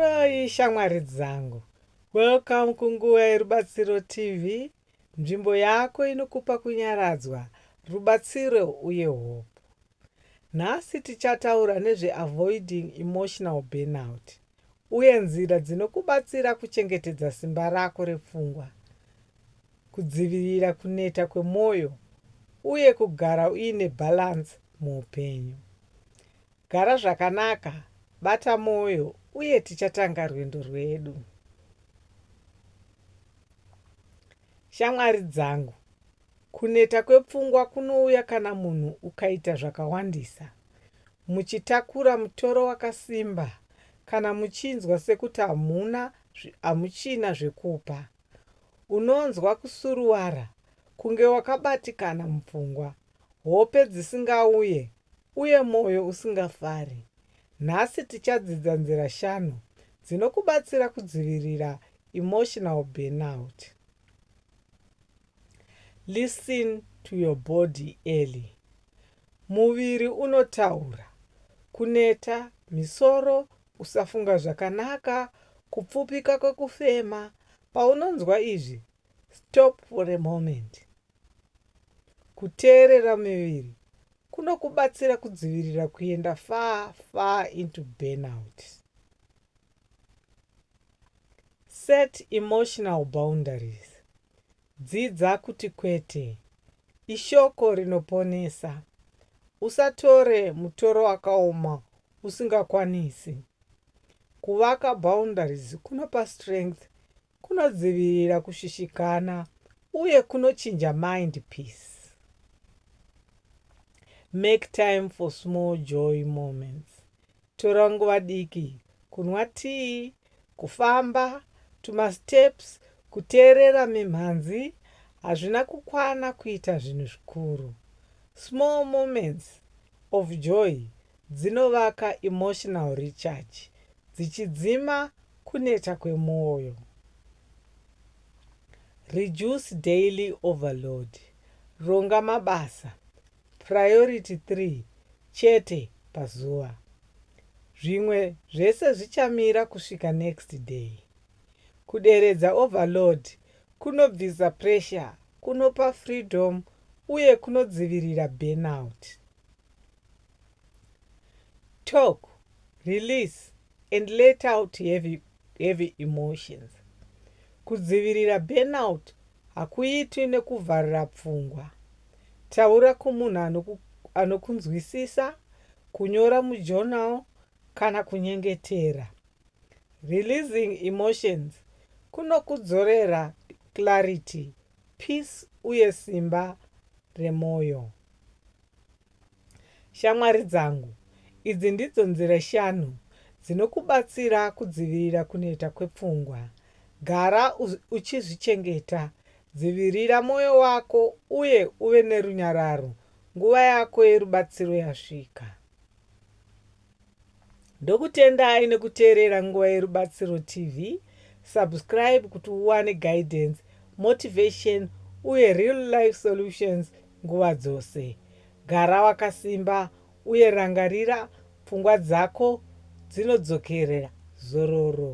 Yoi shamwari dzangu. Welcome kunguva yerubatsiro TV, nzvimbo yako inokupa kunyaradzwa, rubatsiro uye hope. Nhasi tichataura nezve avoiding emotional burnout uye nzira dzinokubatsira kuchengetedza simba rako repfungwa, kudzivirira kuneta kwemwoyo uye kugara uine balance muupenyu. Gara zvakanaka, bata mwoyo, uye tichatanga rwendo rwedu. Shamwari dzangu, kuneta kwepfungwa kunouya kana munhu ukaita zvakawandisa, muchitakura mutoro wakasimba, kana muchinzwa sekuti hamuna, hamuchina zvekupa. Unonzwa kusuruwara, kunge wakabatikana mupfungwa, hope dzisingauye, uye mwoyo usingafari. Nhasi tichadzidza nzira shanu dzinokubatsira kudzivirira emotional burnout. Listen to your body early. Muviri unotaura. Kuneta, misoro, kusafunga zvakanaka, kupfupika kwekufema. Paunonzwa izvi, stop for a moment. Kuteerera miviri kunokubatsira kudzivirira kuenda far far into burnout. Set emotional boundaries. Dzidza kuti kwete ishoko rinoponesa. Usatore mutoro wakaoma usingakwanisi. Kuvaka boundaries kunopa strength Kunodzivirira kushushikana uye kunochinja mind peace. Make time for small joy moments. Tora nguva diki kunwa tea, kufamba tumasteps, kuteerera mimhanzi hazvina kukwana kuita zvinhu zvikuru. Small moments of joy dzinovaka emotional recharge dzichidzima kuneta kwemwoyo. Reduce daily overload, ronga mabasa priority three chete pazuva, zvimwe zvese zvichamira kusvika next day. Kuderedza overload kunobvisa pressure, kunopa freedom uye kunodzivirira burnout. Talk, release and let out heavy, heavy emotions. Kudzivirira burnout hakuitwi nekuvharira pfungwa. Taura kumunhu anoku, anokunzwisisa, kunyora mujournal kana kunyengetera. Releasing emotions kunokudzorera clarity, peace uye simba remoyo. Shamwari dzangu, idzi ndidzo nzira shanu dzinokubatsira kudzivirira kuneta kwepfungwa. Gara uchizvichengeta. Dzivirira mwoyo wako uye uve nerunyararo nguva yako yerubatsiro yasvika. Ndokutendai nekuteerera Nguva Yerubatsiro TV. Subscribe kuti uwane guidance, motivation uye real life solutions nguva dzose. Gara wakasimba uye rangarira pfungwa dzako dzinodzokerera zororo.